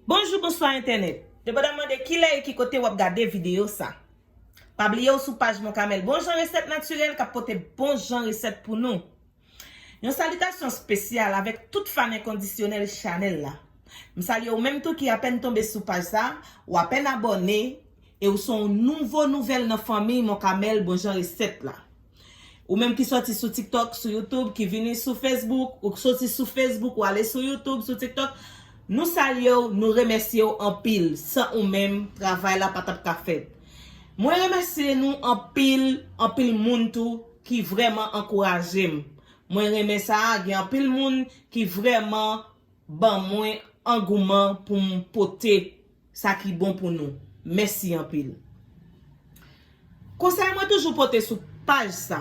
Bonjou bonswa entènèt Yo pa dam mande kilè e ki kote wap gade videyo sa Pa bliye ou sou paj Moncamel Bon jan resèt natirèl kap pote bon jan resèt pou nou. Yon salitasyon spesyal avèk tout fan enkondisyonèl chanèl la. M salye ou menm tou ki apèn tonbe sou paj sa, ou apèn abòne e ou son nouvo nouvèl nan fanmiy Moncamel bon jan resèt la. Ou menm ki sòti sou tiktok, sou youtube, ki vini sou facebook, ou k soti sou facebook ou ale sou youtube, sou tiktok, nou salye ou, nou remèsye ou anpil, san ou menm travay la pa tap ka fèt. Mwen remèsye nou anpil, anpil moun tou ki vrèman ankouraje m. Mwen renmen sa, gen anpil moun ki vrèman ban mwen angouman pou m pote sa ki bon pou nou. Mèsi anpil. Konsèy mwen toujou pote sou paj sa,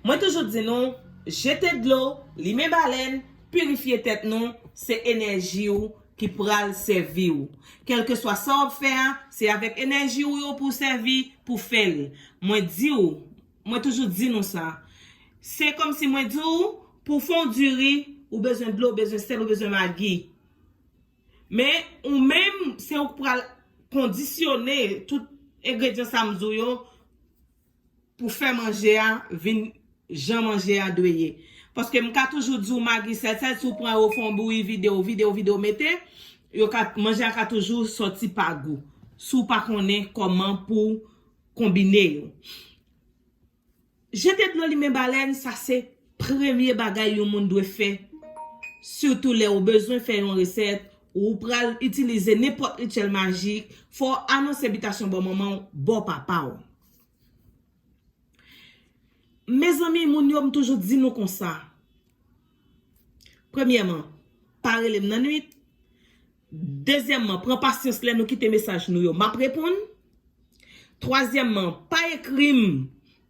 mwen toujou di nou, jete dlo, limen balèn, pirifye tèt nou, se enèji ou ki pral sèvi ou. Kèlkeswa sa w ap fè a, se avèk enèji ou yo pou w sèvi, pou w fè l. Mwen di ou, Mwen toujou di nou sa. Se kòm si mwen di ou, pou fè yon diri, ou bezwen dlo, ou bezwen sèl, ou bezwen magi. Men, ou menm, se ou k pral kondisyone tout engredyan sa m di w yo pou fè manje a vin jan manje a dwe ye. Paske m ka toujou di w magi sèl sèl, si w pran yo, w fè yon bouyi, vide yo, vide yo, vide yo, mete, yo ka, manje a ka toujou sòti pa gou. Si w pa konnen kòman pou. Konbine yo. Jete dlo limen balèn sa se premye bagay yon moun dwe fè sitou lè ou bezwen fè yon resèt ou ou pral itilize nenpòt rityèl majik fò w anonse bitasyon bò manman w bò papa w. Mezanmi moun yo m toujou di nou konsa premyèman pa rele m nan nwit. Dezyèmman, pran pasyans lè nou kite mesaj nou yo, m ap reponn. Twazyèmman, pa ekri m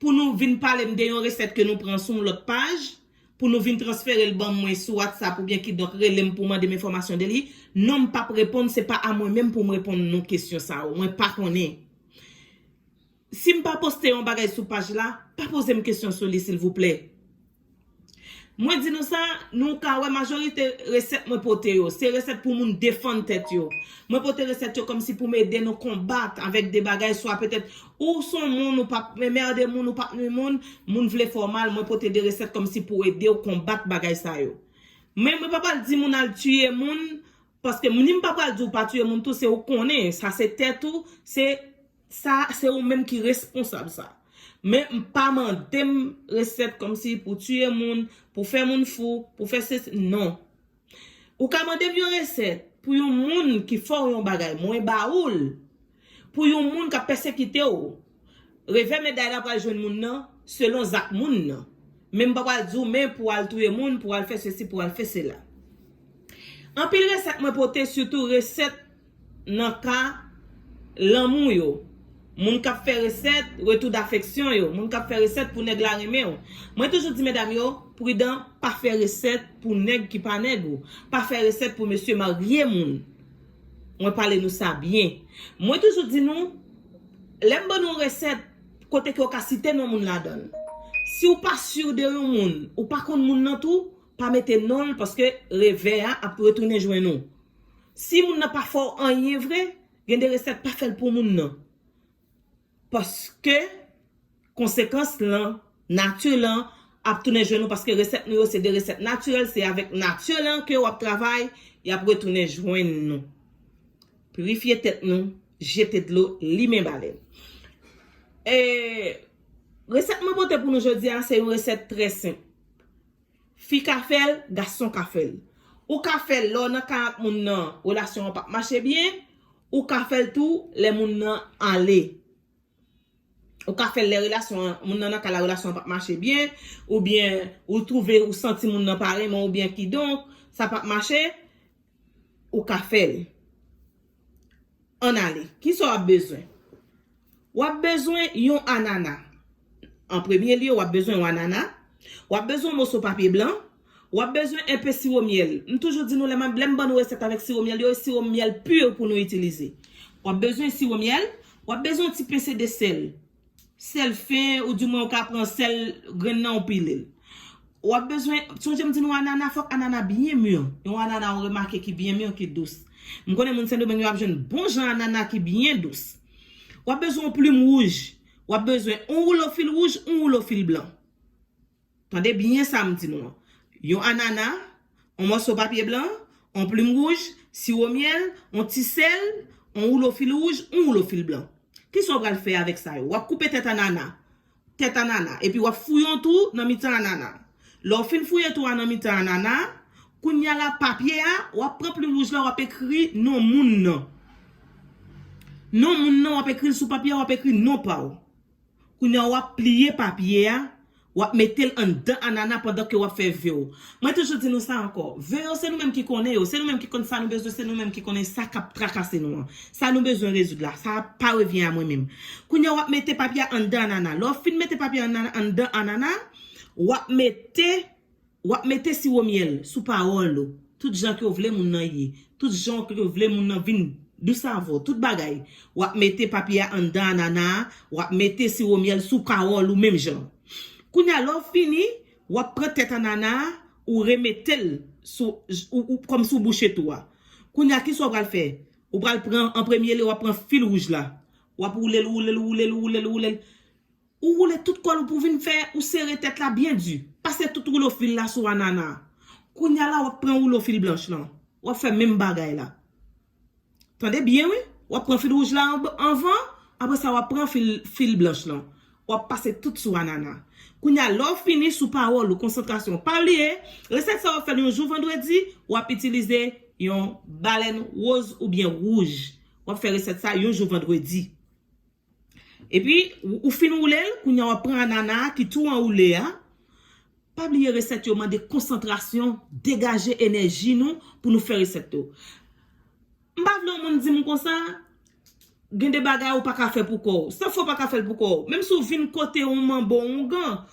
pou nou vin pale m de yon resèt ke nou pran sou yon lòt paj, pou nou vin transfere l ban mwen sou Whatsapp oubyen kidonk rele m pou w mande m enfòmasyon de li. Non m p ap reponn, se pa a mwen menm pou m reponn nou kesyon sa yo, mwen pa konnen. Si m pa poste yon bagay sou paj la, pa poze m kesyon sou li silvouplè. Mwen di nou sa, nou ka wè majorite resèt mwen pote yo, se resèt pou moun defann tèt yo. Mwen pote resèt yo kòmsi pou m ede nou konbat avèk de bagay swa petèt ou s on moun ou pa p merde moun, ou pa p nwi moun, moun vle fè w mal, mwen pote de resèt kòmsi pou ede w konbat bagay sa yo. Men mwen pa pral di moun al tiye moun Paske m nim pa pral di w pa tiye moun tou se ou konnen sa se tèt ou se sa se ou menm ki responsab sa men m pa mande m resèt kòmsi pou tiye moun pou fè moun fou pou fè sesi non ou ka mande m yon resèt pou yon moun ki fè w yon bagay mwen ba ou l Pou yon moun kap pèsekite w, revè meday la pral jwenn moun nan selon zak moun nan. Men m pa pral di w men pou w al touye moun, pou w al fè sesi, pou w al fè sela. Anpil resèt mwen pote sitou resèt nan ka lanmou yo. Moun kap fè resèt retou dafeksyon yo, moun kap fè resèt pou nèg la renmen w. Mwen toujou di medam yo, pridan pa fè resèt pou nèg ki pa nèg ou, pa fè resèt pou mesye marye moun. Mwen pale nou sa byen. Mwen toujou di nou, lè m ban nou yon resèt, kote ke ou ka site non moun ladan l. Si ou pa sur de yon moun, ou pa konn moun nan tou, pa mete non l paske revè a ap retounen jwenn ou. Si moun nan pa fè w anyen vre, gen de resèt pa fè l pou moun nan. Paske konsekans lan, nature lan ap tounen jwenn ou paske resèt nou yo se de resèt naturel se avèk nature lan ke wap travay yap retounen jwenn nou. Pirifye tèt nou, jete dlo, limen balèn. E resèt mwen pote pou nou jodi a se yon resèt trè senp. Fi ka fèl, gason ka fèl. Ou ka fèl lè w nan kay ak moun nan relasyon an pap mache byen, ou ka fèl tou lè moun nan ale. Ou ka fèl lè relasyon an, moun nan nan kay la relasyon an pap mache byen, oubyen ou twouve ou santi moun nan pa renmen w byen kidonk sa pap mache. Ou ka fè l. Ann ale. Ki sa w ap bezwen? W ap bezwen yon anana. An premye lye, w ap bezwen yon anana. W ap bezwen yon moso papye blan. W ap bezwen enpe siwo myèl. M toujou di nou lè m ban nou resèt avèk siwo myèl yo, e siwo myèl pur pou nou itilize. W ap bezwen siwo myèl. W ap bezwen yon ti pese de sèl. Sèl fen ou di mwen ou ka pran sèl grenn nan ou pilel. Wap bezwen, sonje m di nou anana fòk anana byen mûr. Yon anana ou remake ki byen mûr ki dous. M konnen moun sendomeng yo ap jwenn bon jan anana ki byen dous. Wap bezwen yon plim wouj, wap bezwen yon woulo fil wouj, yon woulo fil blan. Tande byen sa m di nou an. Yon anana, on mòso papye blan, on plim wouj, siwo myèl, on ti sèl, on woulo fil wouj, on woulo fil blan. Ki sa w pral fè avèk sa yo? W ap koupe tèt anana. Tèt anana. Epi w ap fouye on twou nan mitan anana a. Lè w fin fouye twou a nan mitan anana a, kounye a la papye a, w ap pran plim wouj la w ap ekri non moun nan. Non moun nan w ap ekri l sou papye a, w ap ekri non pa w. Kounya wap pliye papye a, wap metel anndan anana pandan ke wap fè ve w. Mwen toujou di nou sa ankò, ve yo se nou menm ki konnen yo, se nou menm ki konn sa nou bezwen, se nou menm ki konnen sa kap trakase nou an. Sa nou bezwen rezoud la, sa pa revyen a mwen menm. Kounya wap mete papye a anndan anana. Lè w fin mete papye a anndan anana, wap mete Wap mete siwo myèl sou pawòl ou tout jan kew vle moun nan ye tout janw kew vle moun nan vin dous avèw tout bagay wap mete papye a anndan anana a wap mete siwo myèl sou pawòl ou menm jan kounya lèw fini wap pran tèt anana a ou remetel sou ou kòmsi ou bouche tou a kounya kisa ou pral fè ou pral pran an premye liye wap pran fil wouj la wap woulel woulel woulel woulel woulel. Ou woule tout kòl ou pou vin fè, ou sere tèt la byen di. Pase tout woulo fil la sou anana a. Kounya la w ap pran woulo fil blanch lan. W ap fè menm bagay la. Tande byen wi. W ap pran fil wouj la anvan, apre sa w ap pran fil blanch lan. W ap pase tout sou anana. Kounya lè w fini sou pawòl ou, konsantrasyon w. Pa bliye, resèt sa w ap fè l yon jou vandredi, w ap itilize yon balèn woz oubyen wouj. W ap fè resèt sa yon jou vandredi. Epi ou fin woulel kounya wap pran anana a ki tou an woule a Pa bliye resèt yo mande konsantrasyon Degaje enèji nou pou nou fè resèt yo M pa vle yon moun dim konsa Gen de bagay ou paka fè pou kòw San fè w paka fèl pou kòw Menm si w vin kote yon manbo oungan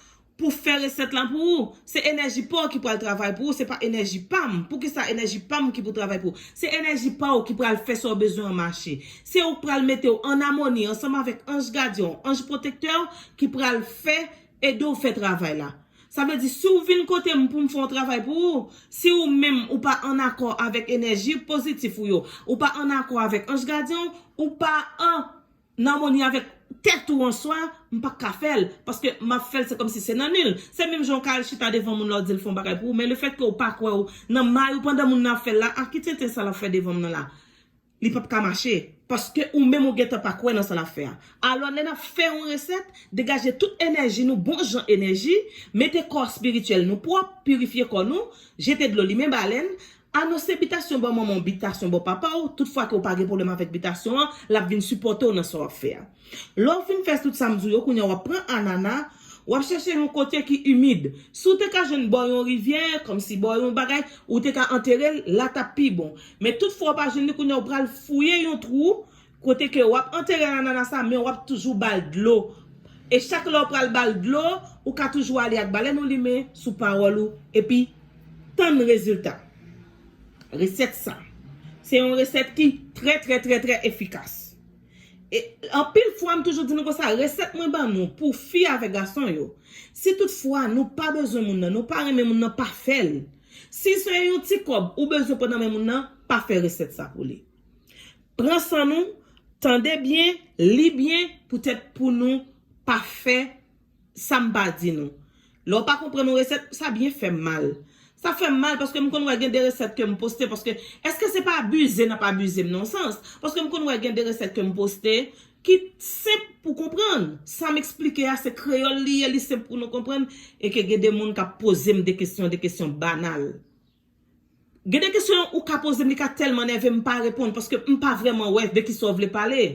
Pou fè resèt la pou ou. Se enèji pa w ki pral travay pou ou, se pa enèji pa m. Poukisa enèji pa m ki pou travay pou ou? Se enèji pa w ki pral fè sa w bezwen an mache. Se ou k pral mete w an amoni ansanm avèk anj gadyen w, anj pwotektè w ki pral fè, ede w fè travay la. Sa vle di, si w vin kote m pou m fè yon travay pou ou, si ou menm ou pa an akò avèk enèji pozitif ou yo, ou pa an akò avèk anj gadyen w, ou pa an. nan amoni avèk tèt ou an swa, m pa ka fè l, paske m ap fè l se kòmsi se nan ni l. Se menm jan w ka al chita devan moun la w di l fè yon bagay pou ou, men lefètke ou pa kwè ou nan may ou pandan moun nan ap fè l la, a ki tenten sa l ap fè devan m nan la? Li p ap ka mache, paske ou menm ou gentan pa kwè nan sa l ap fè a. Alò lè n ap fè yon resèt, degaje tout enèji nou, bon jan enèji, mete kò espirityèl nou pwòp, pirifye kò nou, jete dlo limen balèn, A non se bitasyon bò manman w bitasyon bò papa w, tout fwa ke w pa gen pwoblèm avèk bitasyon an, l ap vin sipòte w nan sa w ap fè a. Lè w fin fè tout sa m di w yo, kounya w ap pran anana, w ap chèche yon kote ki imid. Si w te ka jwenn bò yon rivyè, kòmsi bò yon bagay, ou te ka antere l, la t ap pi bon. Men tout fwa w pa jwenn li, kounya w pral fouye yon twou, Kote ke wap antere anana sa men wap toujou bal dlo e chak lèw pral bal dlo ou ka toujou ale ak balèn ou limen sou pawòl ou epi tann rezilta resèt sa se yon resèt ki trè trè trè trè efikas e anpil fwa m toujou di nou konsa resèt mwen ban nou pou fi avèk gason yo si tout fwa nou pa bezwen moun nan nou pa renmen moun nan pa fèl si se yon ti kòb ou bezwen pran nan men moun nan pa fè resèt sa pou li. Pran san nou, tande byen, li byen poutèt pou nou pa fè sa m pa di nou. Lè w pa konprann yon resèt, sa byen fè m mal. Sa fè m mal paske m konn wè gen de resèt ke m poste paske èske se pa abize n ap abize m nan yon sans? Paske m konn wè gen de resèt ke m poste ki senp pou konprann. Sa m esplike a se kreyòl li ye, li senp pou nou konprann e ke gen de moun k ap poze m de kesyon, de kesyon banal. Gen de kesyon ou ka poze m li ka tèlman nève m pa reponn paske m pa vrèman wè de kisa w vle pale.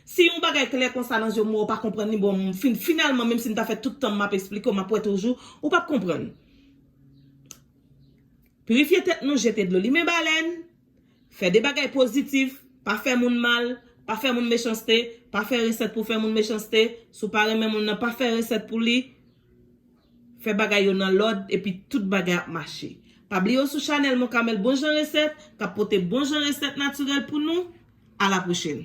Si yon bagay klè konsa nan je w m wè w pa konprann li bon m fin finalman menm si m ta fè tout tan m m ap esplike w m ap wè toujou ou p ap konprann. Pirifye tèt nou jete dlo limen balèn fè de bagay pozitif pa fè moun mal pa fè moun mechanste pa fè resèt pou w fè moun mechanste si w pa renmen moun nan pa fè resèt pou li. Fè bagay yo nan lòd epi tout bagay ap mache. Pa bliye w sou chanèl Mon Carmel Bon Jan Resèt kap pote bon jan resèt natirèl pou nou. A la pwochèn!